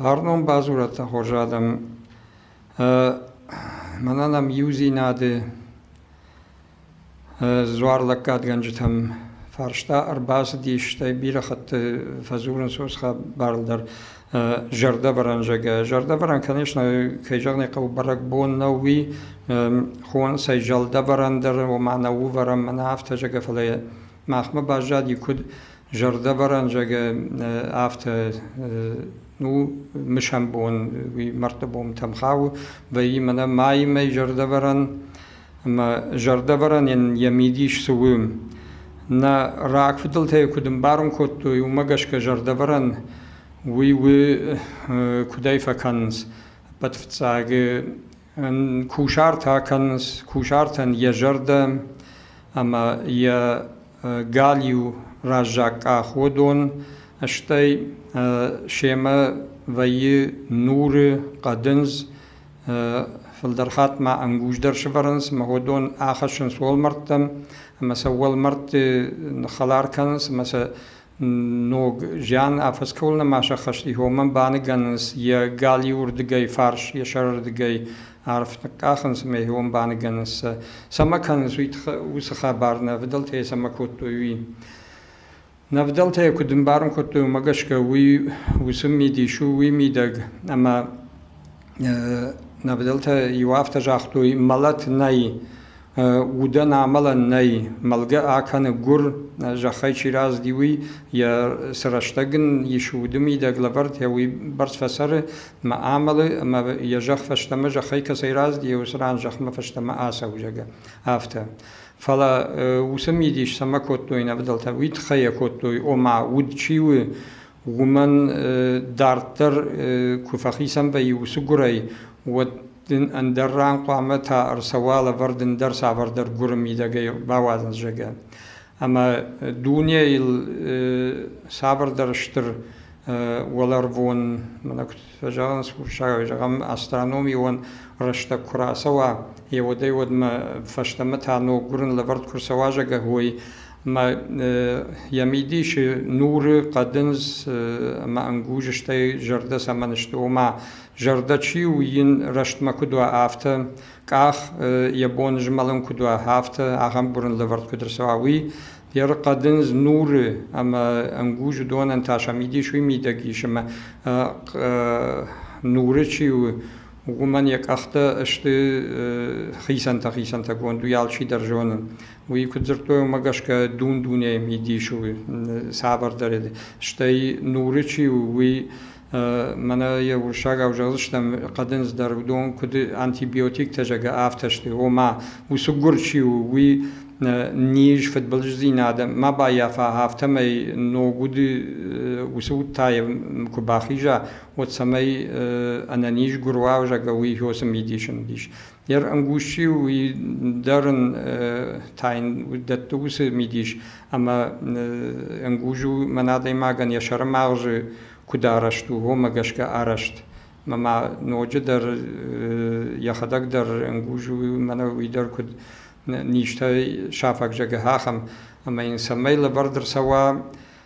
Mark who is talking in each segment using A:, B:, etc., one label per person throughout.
A: Фарнон бадзурӕд хорз адӕм. Мӕнӕн ам иудзинады дзуар лӕггадгӕнджытӕм фарста ӕрбацыдис, стӕй бирӕ хатты фӕдзурынц уыцы хабар дӕр. Зӕрдӕвӕрӕн зӕгӕ. Зӕрдӕвӕрӕн кӕнис нӕ, кӕй зӕгъын ӕй хъӕуы, бӕрӕгбон нӕу, уый хонцӕй зӕлдӕвӕрӕн дӕр, ома нӕ увӕрӕн мӕнӕ афтӕ зӕгӕ, фӕлӕ махмӕ баззади куыд зӕрдӕвӕрӕн зӕгӕ, афтӕ ну мысӕн бон уый мӕрдты бонтӕм хауы, вӕййы мӕнӕ майимӕ зӕрдӕвӕрӕн ӕмӕ зӕрдӕвӕрӕнӕн йӕ мидис цы у. Нӕ рагфыдӕлтӕй куыд ӕмбарын кодтой, уымӕ гӕсгӕ зӕрдӕвӕрӕн уый у куыдӕй фӕкӕнынц ӕппӕт фыццаг кусартӕ кӕнынц кусартӕн йӕ зӕрдӕ ӕмӕ йӕ галиу раззаг къах уыдон, стӕй семӕ вӕййы нуры, хъӕдындз, Фылдӕр хатт ма ӕнгуздӕр сывӕрынц ӕмӕ уыдон ахӕссынц уӕлмӕрдтӕм ӕмӕ сӕ уӕлмӕрдты ныххӕлар кӕнынц ӕмӕ сӕ ног зиан афӕскӕуыл нӕма сӕххӕст и, уымӕн баныгӕнынц йӕ галиуырдыгӕй фарс, йӕ сӕрырдыгӕй арф ныкъкъахынц ӕмӕ йӕ баныгӕнынц сӕ. Цӕмӕ кӕнынц уый тыххӕй, уыцы хабар, нӕ фыдӕлтӕй цӕмӕ кодтой, уый. Нӕ фыдӕлтӕ куыд ӕмбарын кодтой, уымӕ гӕсгӕ уый уыцы мидис у, уый мидӕг. Ӕмӕ нӕ фыдӕлтӕ иу афтӕ загътой: мӕлӕт нӕй, удӕн амӕлӕн нӕй, мӕлгӕ акӕны гуыр, зӕххӕй чи разыди, уый, йӕ цы рӕстӕг ын ис, уды мидӕг лӕвӕрд, йӕ уый бӕрц фӕцӕры ӕмӕ амӕлы, ӕмӕ йӕ зӕхх фӕстӕмӕ зӕххӕй кӕцӕй разыди, уыцы ран зӕхмӕ фӕстӕмӕ ацӕуы, зӕгъгӕ, афтӕ. Фӕлӕ уыцы мидис цӕмӕ кодтой нӕ фыдӕлтӕ, уый тыххӕй йӕ кодтой, ома, уд чи у, уымӕн дарддӕр куы фӕхицӕн вӕййы уыцы гуырӕй, уӕд дын ӕндӕр ран хъуамӕ та ӕрцӕуа лӕвӕрд ӕндӕр цавӕрдӕр гуыры мидӕгӕй бауадзын, зӕгъгӕ. Ӕмӕ дунейыл цавӕрдӕр стыр уӕлӕрвон, мӕнӕ куыд фӕзӕгъынц хуссарӕй, зӕгъӕм, астрономион рӕстӕг куы рацӕуа, йӕ удӕй удмӕ фӕстӕмӕ та ног гуырын лӕвӕрд куы рцӕуа, зӕгъгӕ, уой. Ӕмӕ йӕ мидисы нуры хъӕдындз ӕмӕ ӕнгуз, стӕй зӕрдӕ цӕмӕн сты, ома, зӕрдӕ чи у, йын рӕстмӕ куыд уа, афтӕ, къах йӕ бон змӕлын куыд уа, афтӕ ахӕм гуырын лӕвӕрд куыд ӕрцӕуа, уый Ерыхъӕдындз нуры ӕмӕ ӕнгуз уыдонӕн та сӕ мидис уый мидӕг ис, ӕмӕ нуры чи у, уымӕн йӕ къӕхтӕ сты хицӕнтӕ-хицӕнтӕгонд, уый алчидӕр зоны. Уый куыд дзырдтой, уымӕ гӕсгӕ дун дунейы мидис у цавӕрдӕр, стӕй нуры чи у, уый Мӕнӕ йе урсагау зӕгъдзыстӕм, хъӕдындз дӕр уыдон куыд антибиотиктӕ, зӕгӕ, афтӕ сты, ома усуггур чи у, уый низ, фыдбылыздзинад ма баййафа, афтӕмӕй ног уды уыцы уд та йӕ куы бахиза, уӕд цӕмӕй ӕнӕнизгур уа, зӕгӕ, уый иһосы мидисы мидис. Йе рӕнгуз-иу дӕр ын тайын дӕтты уыцы мидис, ӕмӕ ӕнгуз у мӕн адӕймагӕн йӕ сӕрым агъзы куыд арӕзт у, уымӕ гӕсгӕ арӕзт. Ӕмӕ ноджыдӕр йӕхӕдӕг дӕр ӕнгуз у, мӕнӕ уый дӕр куыд низтӕй сафаг зӕгъы, ахӕм. Ӕмӕ йын цӕмӕй лӕвӕрд ӕрцӕуа,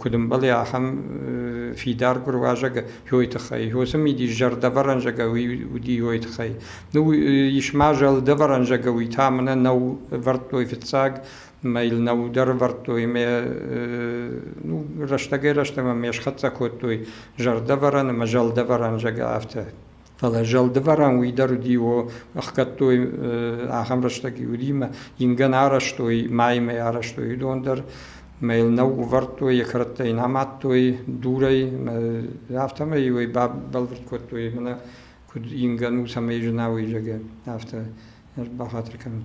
A: куыд ӕмбӕлы ахӕм фидар гуыруазӕг йойы тыххӕй. Уыцы мидис зӕрдӕвӕрӕнзӕгӕ уыди йойы тыххӕй. Ну, ис ма зӕлдӕвӕрӕнзӕгӕ уый та мӕнӕ нӕу ӕвӕрдтой фыццаг, мӕ йыл нӕу дӕр ӕвӕрдтой, мӕ ну рӕстӕгӕй-рӕстӕмӕ мӕ схӕццӕ кодтой зӕрдӕвӕрӕн ӕмӕ зӕлдӕвӕрӕнзӕгӕ афтӕ. Фӕлӕ зӕлдывӕрӕн уый дӕр уыди, о, ӕхгӕдтой ахӕм рӕстӕг Юримӕ, ингӕн арӕзтой, мӕймӕ арӕзтой, уыдон дӕр мӕ йыл нӕ увӕрдтой, йӕ кӕрӕттӕ йын амадтой дурӕй, афтӕмӕй уый бӕлвырд кодтой, мӕнӕ куыд ингӕн у, цӕмӕй зына уый, зӕгӕ, афтӕ бахатыр кӕнын.